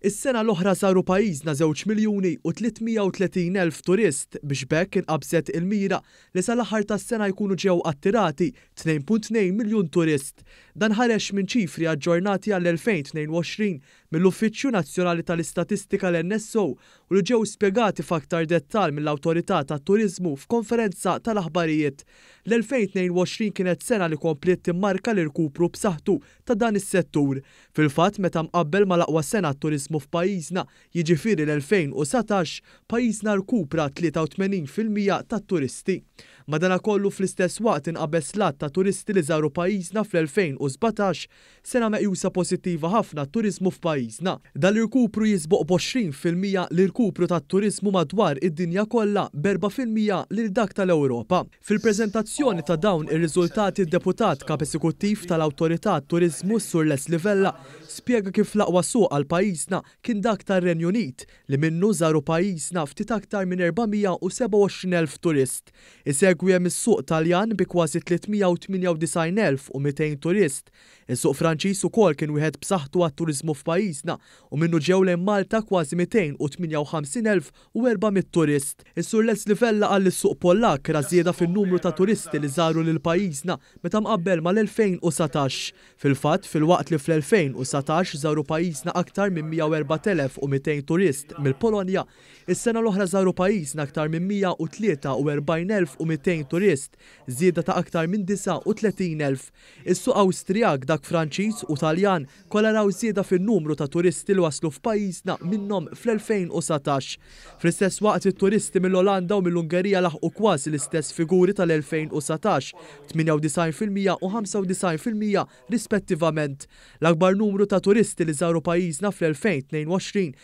Is-sena l-oħra żaru pajjiżna żewġ miljuni u 330 elf turist biex b'hekk inqabżet il-mira li sal-aħħar tas-sena jkunu ġew attirati 2.2 miljun turist. Dan ħareġ minn ċifri aġġornati għall-2022 mill-Uffiċċju Nazzjonali tal-Istatistika l-NSO u li ġew spjegati f'aktar dettall mill-Awtorità tat-Turiżmu f'konferenza tal-aħbarijiet L-2022 kienet sena li kompliet timmarka l-irkupru b'saħħtu ta' dan is-settur. Fil-fatt, meta mqabbel mal-aqwa sena għat-turiżmu f'pajjiżna, jiġifieri l-2019, pajjiżna rkupra 83 fil-mija tat-turisti. Madanakollu, fl-istess waqt inqabeż l-għadd ta' turisti li żaru pajjiżna fl-2017, Sena meqjusa pożittiva ħafna għat-turiżmu f'pajjiżna. Dal-irkupru jisboq b'għoxrin fil-mija l-irkupru tat-turiżmu madwar id-dinja kollha b'erbgħa fil-mija lil dak tal-Ewropa. Fil-preżentazzjoni ta' dawn ir-riżultati d-Deputat Kap Esekuttiv tal-Awtorità għat-Turiżmu s-Sur Leslie Vella spjega kif l-aqwa suq għal pajjiżna kien dak tar-Renju Unit li minnu żaru pajjiżna ftit aktar minn 427,000 turist Isegwi hemm is-suq Taljan bi kważi 398,200 turist. Is-suq Franċiż ukoll kien wieħed b'saħħtu għat-turiżmu f'pajjiżna u minnu ġew lejn Malta kważi 258,400 turist. Is-Sur Leslie Vella qal li s-suq Pollakk ra żieda fin-numru ta' turisti li żaru lil pajjiżna meta mqabbel mal-2019. Fil-fatt, filwaqt li fl-2019 żaru pajjiżna aktar minn 104,200 turist mill-Polonja, Is-sena l-oħra żaru pajjiżna aktar minn 143,200 turist, żieda ta' aktar minn 39,000. Is-suq Awstrijak, dak Franċiż u Taljan kollha raw żieda fin-numru ta' turisti li waslu f'pajjiżna minnhom fl-2019. Fl-istess waqt, it-turisti mill-Olanda u mill-Ungerija laħqu kważi l-istess figuri tal-2019, 98 fil-mija u 95 fil-mija rispettivament. L-akbar numru ta' turisti li żaru pajjiżna fl-2022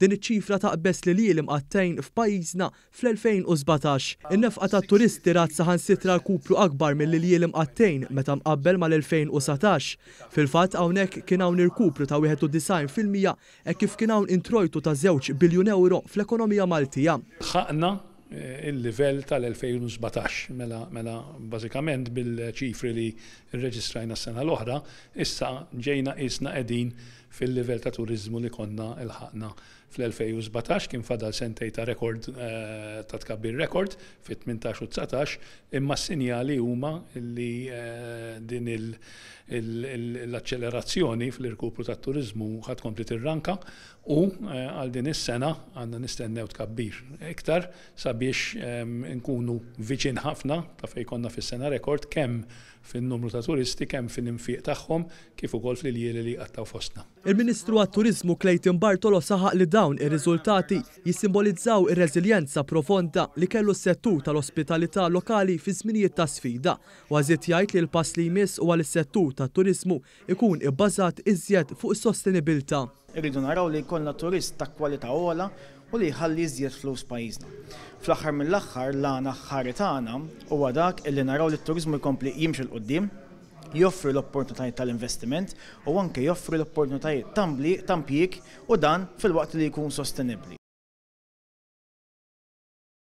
Din iċ-ċifra taqbeż l-iljiel imqattgħin f'pajjiżna fl-2017. In-nefqa tat-turisti rat saħansitra rkupru akbar mill-iljiel imqattgħin meta mqabbel mal-2019. Fil-fatt, hawnhekk kien hawn irkupru ta' 91 fil-mija hekk kif kien hawn introjtu ta' żewġ biljun ewro fl-ekonomija Maltija. Ħaqna il-livell tal-2017. Mela, mela bażikament bil-ċifri li rreġistrajna s-sena l-oħra, issa ġejna qisna qegħdin fil-livell ta' turiżmu li konna lħaqna fl-2017. Kien fadal sentejn ta' rekord, ta' tkabbir rekord fit-18 u dsatax, imma s-sinjali huma li din l-aċċelerazzjoni fl-irkupru tat-turiżmu ħa tkompli tirranka U għal din is-sena għandna nistennew tkabbir iktar sabiex inkunu viċin ħafna ta' fejn konna fis-sena rekord kemm fin-numru ta' turisti, kemm fil-infiq tagħhom kif ukoll fl-iljieli li jqattgħu fostna. Il-Ministru għat-Turiżmu Clayton Bartolo saħaq li dawn ir-riżultati jissimbolizzaw ir-reżiljenza profonda li kellu s-settur tal-ospitalità lokali fi żminijiet ta' sfida. Huwa żied jgħid li l-pass li jmiss huwa li s-settur tat-turiżmu ikun ibbażat iżjed fuq is-sostenibilità. Irridu naraw li jkollna turist ta' kwalità ogħla u li jħalli iżjed flus pajjiżna. Fl-aħħar mill-aħħar l-għan aħħari tagħna huwa dak li naraw li t-turiżmu jkompli jimxi 'l quddiem, joffri l-opportunitajiet tal-investiment u anke joffri l-opportunitajiet ta' impjieg u dan filwaqt li jkun sostenibbli.